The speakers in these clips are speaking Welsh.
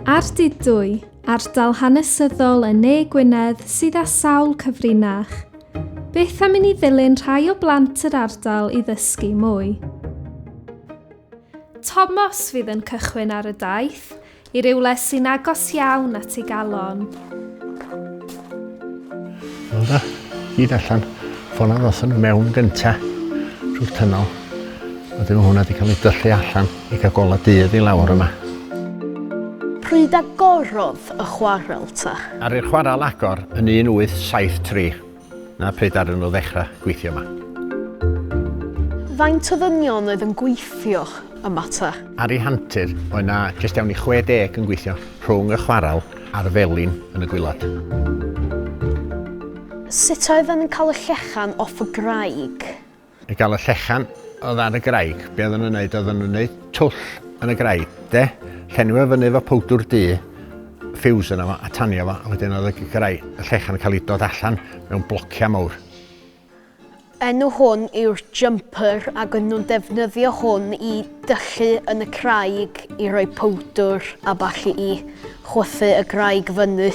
Ardudwy, ardal hanesyddol yn ne Gwynedd sydd â sawl cyfrinach. Beth am i ni ddilyn rhai o blant yr ardal i ddysgu mwy? Tomos fydd yn cychwyn ar y daith i rywle sy'n agos iawn at ei galon. Wel da, gyd allan. Ffona ddothon nhw mewn gynta trwy'r tynol. A dyma hwnna wedi cael ei dyllu allan i cael gola dydd i lawr yma. Pryd agorodd y chwarel ta? Ar i'r chwarel agor yn 1873. Na pryd ar nhw ddechrau gweithio yma. Faint o ddynion oedd yn gweithio yma ta? Ar ei hantur, oedd na jyst iawn i 60 yn gweithio rhwng y chwarel a'r felin yn y gwilad. Sut oedden yn cael y llechan off y graig? I gael y llechan oedd ar y graig, be oedden nhw'n neud? Oedden nhw'n neud twll yn y graig, de? Llenwi fo fyny efo powdwr du, ffiws yna fo, a tanio fo, a wedyn oedd y graig, y llechan yn cael ei dod allan mewn blociau mawr. Enw hwn yw'r jumper ac yn nhw'n defnyddio hwn i dyllu yn y craig i roi powdwr a ballu i chwythu y graig fyny.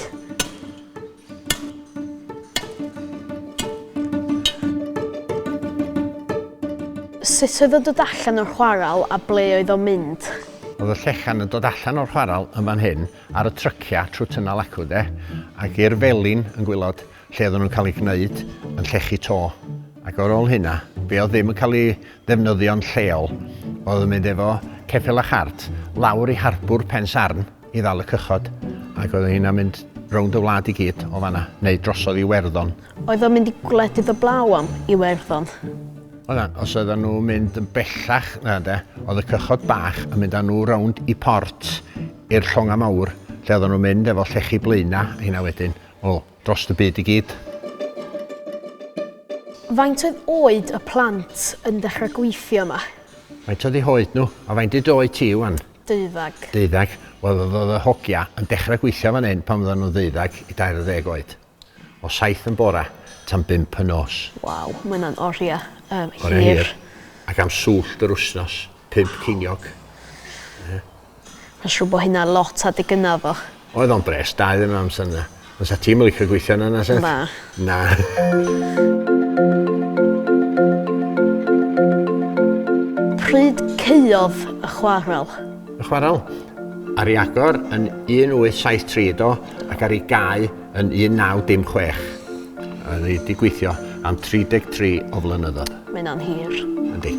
Sut oedd o'n dod allan o'r chwarel a ble oedd o'n mynd? Oedd y llechan yn dod allan o'r chwarel yn fan hyn ar y tryciau trwy Tynnal Acw de ac i'r felin yn gwylod lle oedden nhw'n cael eu gwneud yn llechi to. Ac ar ôl hynna, be oedd ddim yn cael ei ddefnyddio'n lleol, oedd yn mynd efo ceffyl a chart lawr i harbwr Pensarn i ddal y cychod, ac oedd hynna'n mynd rownd y wlad i gyd o fanna, neu drosodd i Iwerddon. Oedd o'n mynd i gwledydd y blaw am Iwerddon? Oedd na, os oedden nhw'n mynd yn bellach na de, oedd y cychod bach yn mynd â nhw rownd i port i'r llongau mawr, lle oedden nhw'n mynd efo llechi blaenau, hynna wedyn. Wel, drost y byd i gyd. Faint oedd oed y plant yn dechrau gweithio yma? Faint oedd eu hoed nhw? A faint ydy dy oed ti ŵan? Deuddeg. Deuddeg. Wel, oedd oedd y hogia yn dechrau gweithio fan hyn pan oedden nhw'n ddeuddeg i dair ar ddeg oed. O saith yn bora tan bump y nos. Waw, mae hynna'n oriau hir. Oriau hir. Ac am swllt yr wythnos, pump ceiniog. Ie. Ma'n siŵr bo hynna lot adeg gynna oddach. Oedd o'n bres da iddyn nhw amser 'na. Ond sa ti'm yn licio gweithio yna na sut? Na. Na. Pryd caeodd y chwarel? Y chwarel? Ar i agor yn 1873 do ac ar i gau Yn 1916. Oedd hi 'di gweithio am 33 o flynyddoedd. Mae hynna'n hir. Yndi.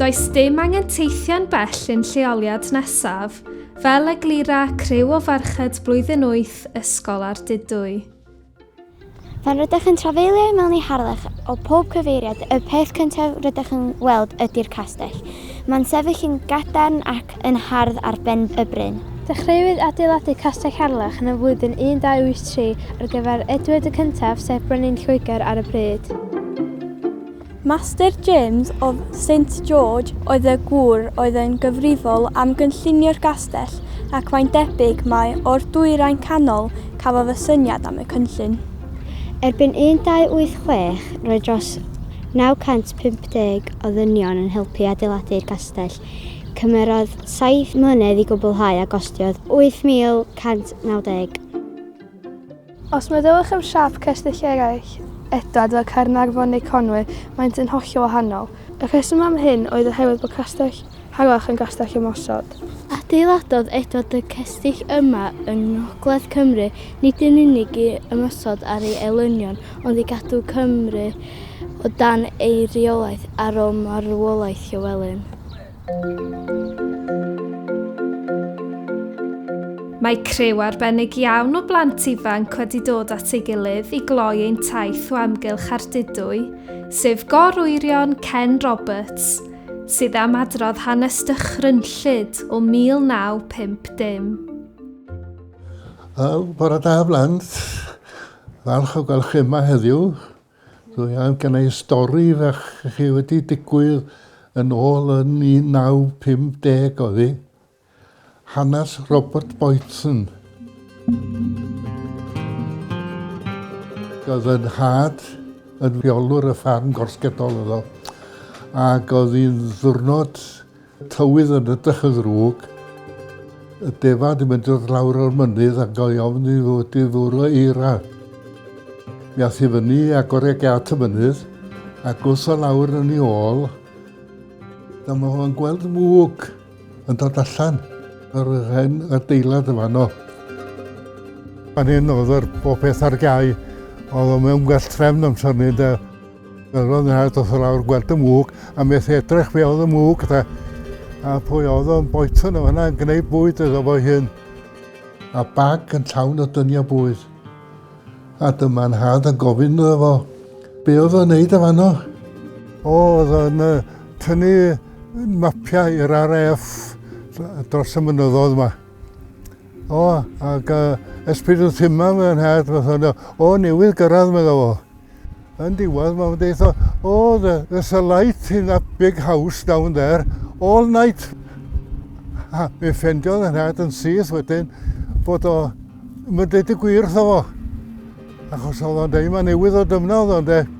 Does dim angen teithio'n bell i'n lleoliad nesaf, fel eglura criw o ferched blwyddyn wyth ysgol Ardudwy. Pan rydych yn trafeilio i mewn i Harlech o pob cyfeiriad, y peth cyntaf rydych yn weld ydy'r castell. Mae'n sefyll yn gadarn ac yn hardd ar ben y bryn. Dechreuwyd adeiladu Castell Harlech yn y flwyddyn 1283 ar gyfer Edward y Cyntaf sef brenin Lloegr ar y pryd. Master James of Saint George oedd y gŵr oedd yn gyfrifol am gynllunio'r gastell ac mae'n debyg mai o'r Dwyrain Canol cafodd y syniad am y cynllun. Erbyn 1286, roedd dros 950 o ddynion yn helpu adeiladu'r castell. Cymerodd saith mlynedd i gwblhau a gostiodd £8,190. Os meddyliwch am siâp cestyll eraill, Edward, fel Caernarfon neu Conwy, maent yn hollol wahanol. Y rheswm am hyn oedd oherwydd bod castell Harlech yn gastell ymosod. Adeiladodd Edward y cestyll yma yng ngogledd Cymru nid yn unig i ymosod ar ei elynion ond i gadw Cymru o dan ei reolaeth ar ôl marwolaeth Llywelyn. Mae criw arbennig iawn o blant ifanc wedi dod at ei gilydd i gloi ein taith o amgylch Ardudwy, sef gor-wyrion Ken Roberts, sydd am adrodd hanes dychrynllyd o 1950. Wel, bore da blant. Falch o gael chi yma heddiw. Dwi am gynnig stori fach i chi wedi digwydd yn ôl yn 1950 oedd hi. Hanes Robert Boyton. Oedd yn had yn fiolwr y ffarm gorsgedol oedd o ac oedd hi'n ddwrnod Tywydd yn edrych yn ddrwg. Y defa'n di mynd dod lawr o'r mynydd a gael ofn i fod i ddwr o eira. Mi ath i fyny a gore at y mynydd a gwrs o lawr yn ei ôl. Dyma mae o'n gweld mwg yn dod allan ar yr hen adeilad y fanno. Pan hyn oedd yr bopeth ar gau, oedd o'n mewn gwell trefn amser ni, de. Roedd o'n dda dros y lawr gweld y mwg a methu edrych be oedd y mwg de. A pwy oedd o'n boetyn o hynna yn gwneud bwyd iddo fo'i hun. A bag yn llawn o dyniau bwyd. A dyma nhad yn gofyn iddo fo, be oedd o'n neud y fanno? O, oedd o'n tynnu mapiau i'r RAF dros y mynyddodd yma. O, ac uh, esbyd wrth yma mewn hedd, o, newydd gyrraedd, meddwl fo. Yn diwedd, mae'n deitha, oh, there's a light in that big house down there, all night. Ha, mi ffendiodd yn rhaid yn syth wedyn bod o yn dweud y gwir wrtho fo. Achos oedd o'n dweud, mae newydd o dymna oedd o'n dweud.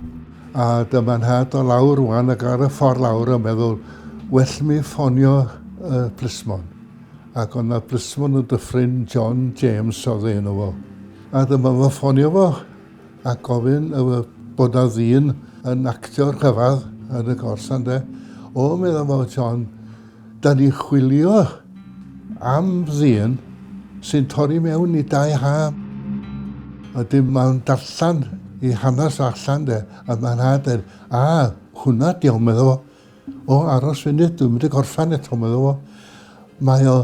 A dyma nhad o lawr rwan ac ar y ffordd lawr yn meddwl, well mi ffonio y plismon. Ac ond na plismon yn dyffryn John James oedd ei enw fo. A dyma fo ffonio fo a gofyn bod a ddyn yn actio rhyfedd yn y gors ynde. O, meddwl fo John, da ni chwilio am ddyn sy'n torri mewn i dau ha. A dim mae'n darllen i hanes allan de, a mae'n hader, a hwnna diolch meddwl fo. O, aros funud, dwi'n mynd i gorffan eto, meddwl fo. Mae o,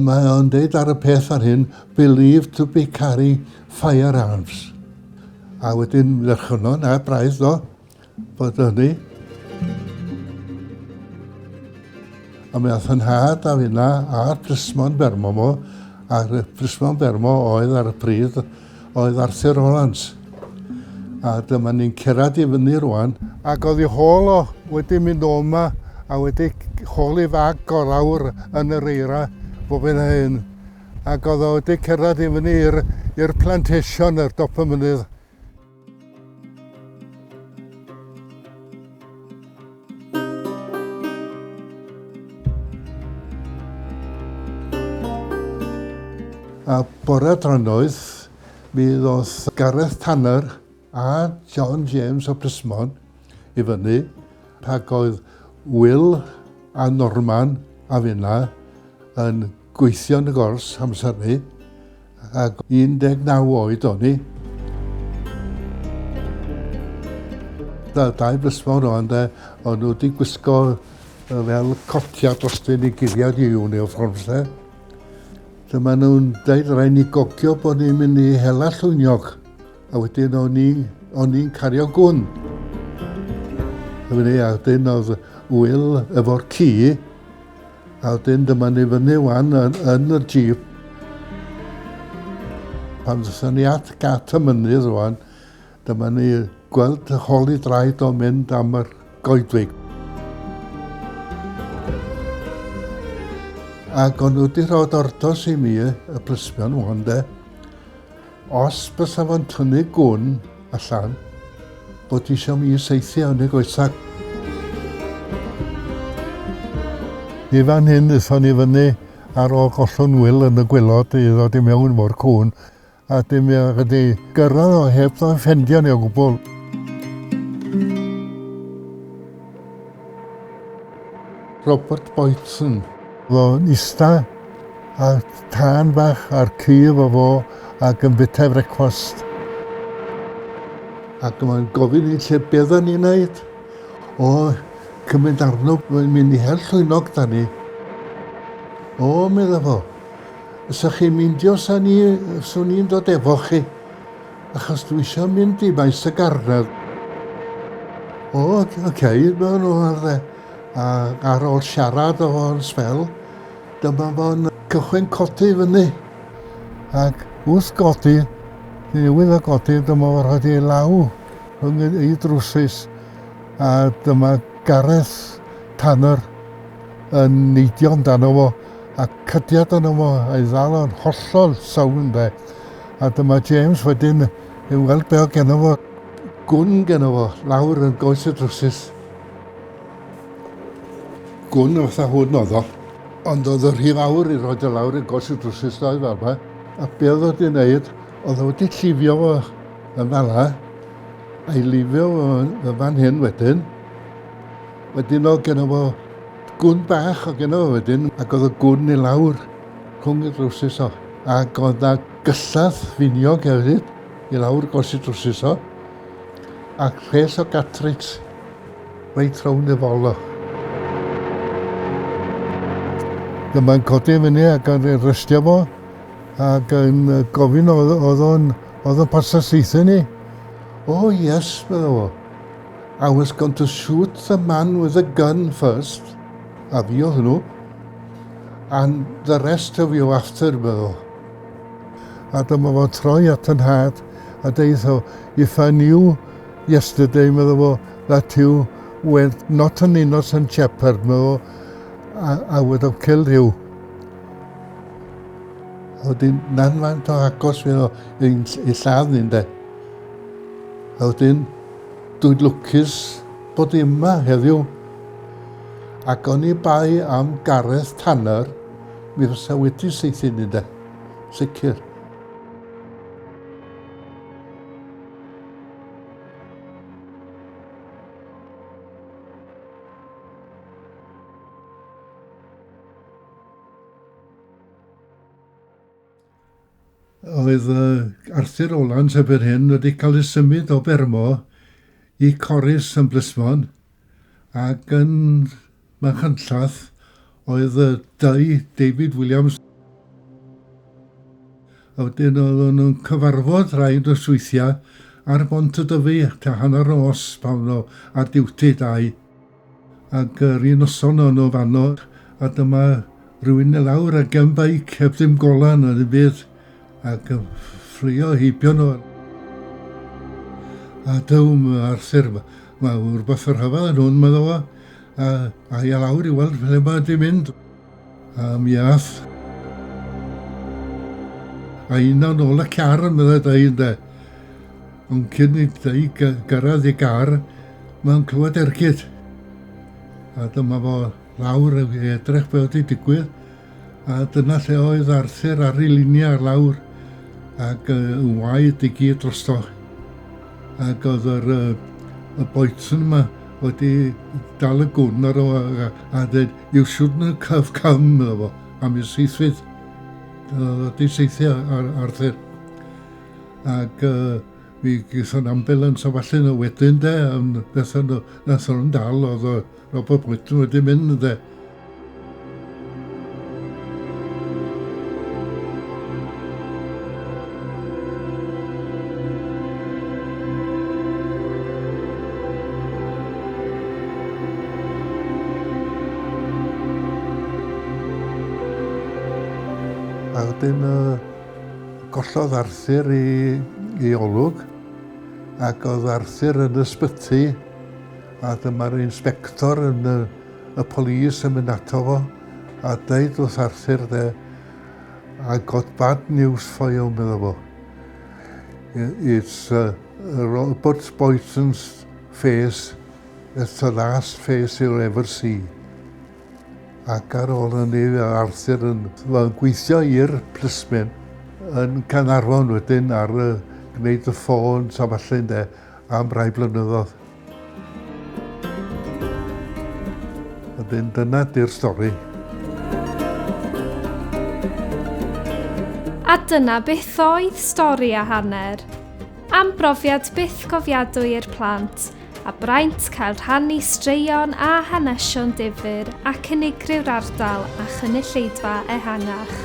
mae o'n deud ar y peth ar hyn, believed to be carry firearms. A wedyn ddechrau na, braidd do, bod hynny. A mae ath yn had a finna a'r plismon bermo mo, a'r plismon bermo oedd ar y pryd oedd Arthur Rowlands. A dyma ni'n cerad i fyny rwan. Ac oedd i hôl o wedi mynd o yma a wedi hôl i fag gorau'r yn yr eira bob hyn a hyn. Ac oedd o wedi cerad i fyny i'r plantation ar dop y mynydd. A bore trynoeth, mi ddoth Gareth Tanner a John James o Plismon i fyny, rhag oedd Will a Norman a finna yn Gweithio yn y gors amser ni, ac 19 oed o'n i. Da, dau blysfawr o'n de, o'n nhw wedi gwisgo fel cotia dros dyn i guddiad i uniforms de. Dyma nhw'n dweud rhaid ni gogio bod ni'n mynd i hela llwyniog, a wedyn o'n i'n cario gwn. Dyma ni, a dyn oedd wyl efo'r ci, A wedyn dyma ni fyny wan yn, yn y jeep. Pan ddysyn ni at gat y mynydd rwan, dyma ni gweld y holi draed o'n mynd am yr goedwig. Ac o'n nhw wedi rhoi ordos i mi, y plismon wan de. Os bysa fo'n tynnu gwn allan bod isio mi saethu yn y goesau. I fan hyn aethon ni fyny ar ôl gollwng Wil yn y gwilod i ddod i mewn efo'r cŵn a dim i wedi gyrraedd o heb ddo'n ffendio ni o gwbl. Robert Boyton. Ro'n ista ar tân bach ar cur o fo ac yn bita frecwast. Ac mae'n gofyn i lle beth o'n i'n neud. O, cymryd arno, mae'n mynd i hel llwynog da ni. O, medda fo, ysa'ch chi'n mindio sa'n ni'n dod efo chi. Achos dwi isio mynd i maes y garnedd. O, oh, oce, okay, no, no, arde. A ar ôl siarad o fo'n sbel, dyma fo'n cychwyn codi fyny. Ac wrth godi, newydd o godi, dyma fo'n rhaid ei law yn ei drwsus. A dyma Gareth Tanner yn neidio amdano fo a cydiad yno fo a'i ddal o'n hollol sawn de. A dyma James wedyn yn weld be oedd geno fo. Gwn geno fo, lawr yn goes y drwsus. Gwn fatha hwn oedd o. Ond oedd o rhy fawr i roed o lawr yn goes y drwsus ddoe fel yma. A be oedd o wedi wneud, oedd o wedi llifio fo yn fala, a'i lifio fo yn fan hyn wedyn. Wedyn oedd geno fo gwn bach o geno fo wedyn, ac oedd y gwn i lawr. rhwng y drywsus o. Ac oedd na gyllell finiog hefyd i lawr gos y drywsus o. Ac rhes o gatrix reit rownd y fol o. Dyma'n codi fyny ac yn restio fo ac yn gofyn oedd o'n oedd o'n pasta seithau ni. O oh, yes, meddwl fo. I was going to shoot the man with the gun first. A fi oedd nhw. And the rest of you after, meddo. A dyma fo'n troi at y nhad a deitho, If I knew yesterday, meddo fo, that you were not an innocent shepherd, meddo, I, I would have killed you. A wedyn, nan fan to agos fe o, i lladd ni'n de. A wedyn, dwi'n lwcus bod i yma heddiw. Ac oni bai am Gareth Tanner, mi fysa wedi saethu ni de. Sicr. Oedd Arthur Rowlands erbyn hyn wedi cael ei symud o Bermo i Corris yn Blismon ac yn Machynlleth oedd y dau David Williams a wedyn oedden nhw'n cyfarfod rhai dros weithiau ar Bont y Dyfi tua hanner nos pan nhw ar diwti dau. Ac yr un noson o'n nhw fanno, a dyma rhywun i lawr a gen beic heb ddim golau na ddim byd, ac yn ffrio heibio nhw. A dywm Arthur, mae rhywbeth yn rhyfedd yn hwn, meddwl fo, a a'i lawr i weld ble mae wedi mynd. A mi ath. A yna nôl y car yn meddai dau ynde. Ond cyn i dau gyrraedd i gar, mae'n clywed ergyd. A dyma fo lawr i edrych be oedd wedi digwydd. A dyna lle oedd Arthur ar ei luniau ar lawr ac yn waed i gyd drosto. Ac oedd yr, y boetyn yma wedi dal y gwn ar o a, a dweud, I'r siwrne cyf cym iddo fo am i'r seithfyd. Dyna di seithio ar Arthur. Ac uh, mi gyson ambulans a falle na wedyn de, yn beth yn nathon nhw'n dal oedd o Robert Whitten wedi mynd de. A wedyn uh, gollodd Arthur i, i olwg ac oedd Arthur yn ysbyty a dyma'r inspector yn y, y polis yn mynd ato fo a dweud wrth Arthur de, I got bad news for you, medda fo. It's uh, Robert Boyton's face, it's the last face you'll ever see. Ac ar ôl hynny, Arthur yn gweithio i'r plismen yn Canarfon wedyn ar uh, gwneud y ffôn, sa falle, de. am rai blynyddoedd. Wedyn dyna di'r stori. A dyna beth oedd stori a hanner. Am brofiad byth cofiadwy i'r plant, a braint cael rhannu straeon a hanesion difyr ac unigriw'r ardal a chynulleidfa ehangach.